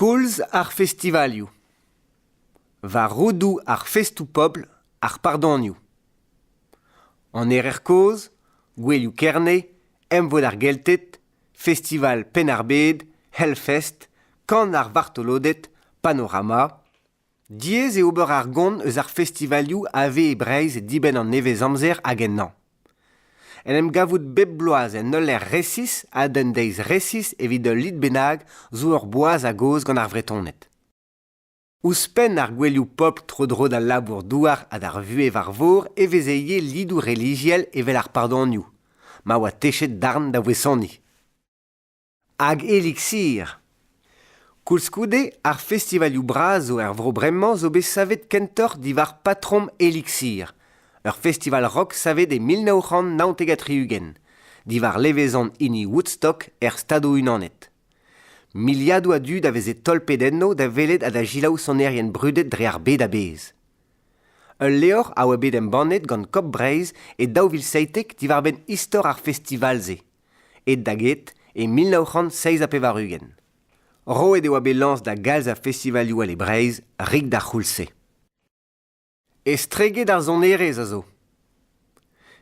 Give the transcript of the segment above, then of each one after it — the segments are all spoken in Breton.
Koulz ar festivalioù. War roudoù ar festoù-pobl, ar pardonioù. An Erer-Kozh, Gouelioù Kerne, Emvod ar Gelted, Festival Penn-ar-Bed, Hellfest, Kan ar vartoloded, Panorama... Diaes eo ober ar gont eus ar festivalioù a vez e Breizh dibenn an nevez-amzer hag ennañ. En em gavout bep bloaz en ul lec'h resis ha d'un deiz resis evit ul lid bennak zo ur boaz a-gozh gant ar Vretoned. Ouzhpenn ar gouelioù pobl tro-dro d'al labour-douar ha d'ar vuhez war vor e veze ivez lidoù relijiel evel ar pardonioù, ma oa techet darn da voesoniñ. Hag Elixir. Koulskoude, ar festivalioù bras zo er vro bremañ zo bet savet kentoc'h diwar patrom Elixir, ur festival rock savet e mil nav c'hant naontek ha tri-ugent, diwar levezon hini Woodstock er Stadoù-Unanet. Miliadoù a dud a veze tolpet enno da welet ha da selaou sonerien brudet dre ar bed a-bezh. Ul levr a oa bet embannet gant Kop Breizh e daou vil seitek diwar-benn istor ar festival-se. aet da get e mil nav c'hant seizh ha pevar-ugent. Roet e oa bet lañs da galz a festivalioù all e Breizh rik d'ar c'houlz-se. Estreget ar sonerezh a zo.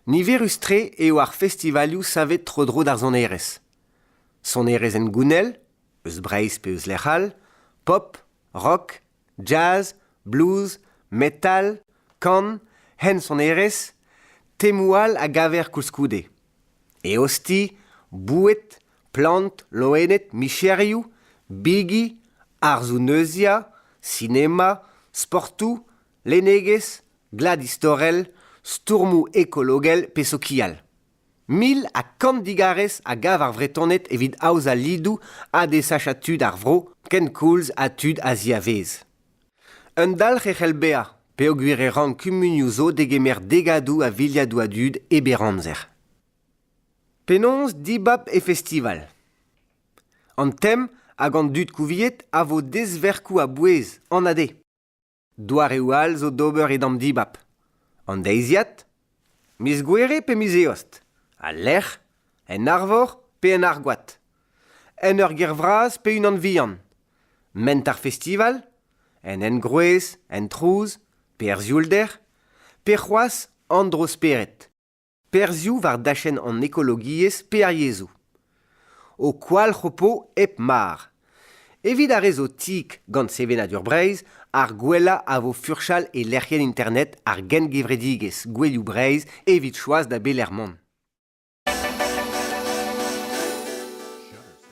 Niverus-tre eo ar festivalioù savet tro-dro d'ar sonerezh. Sonerezh hengounel, eus Breizh pe eus lec'h all, pop, rock, jazz, blues, metal, kan, hensonerezh, temoù all a gaver koulskoude. eosti, boued, plant, loened, micherioù, bigi, arzoù-neuziañ, sinema, sportoù, lennegezh, glad istorel, stourmoù ekologel pe sokial. Mil ha kant digarez a gav ar Vretoned evit aozañ lidoù ha desachañ tud ar vro, kenkoulz ha tud a ziavaez. Un dalc'h e c'hell bezañ peogwir e rank kumunioù zo degemer degadoù a viliadoù a dud e berr amzer. Penaos dibab e festival An tem hag an dud kouviet a vo dezverkoù a-bouez an ade. Doareoù all zo d'ober e damm dibab. An deiziad Miz Gouere pe miz Eost? Al lec'h, en arvor pe en argoad? En ur gêr vras pe unan vihan? Ment ar festival? En engroez, en trouz, pe er sioulder? Pe c'hoazh an dro-spered? Perzhioù war dachenn an ekologiezh pe ar yezhoù. Ho kwalc'h ho po hep mar. Evit ar re zo tik gant sevenadur Breizh, ar gwellañ a vo furchal e lec'hienn internet ar gengevredigezh Gouelioù Breizh evit choaz da belec'h mont.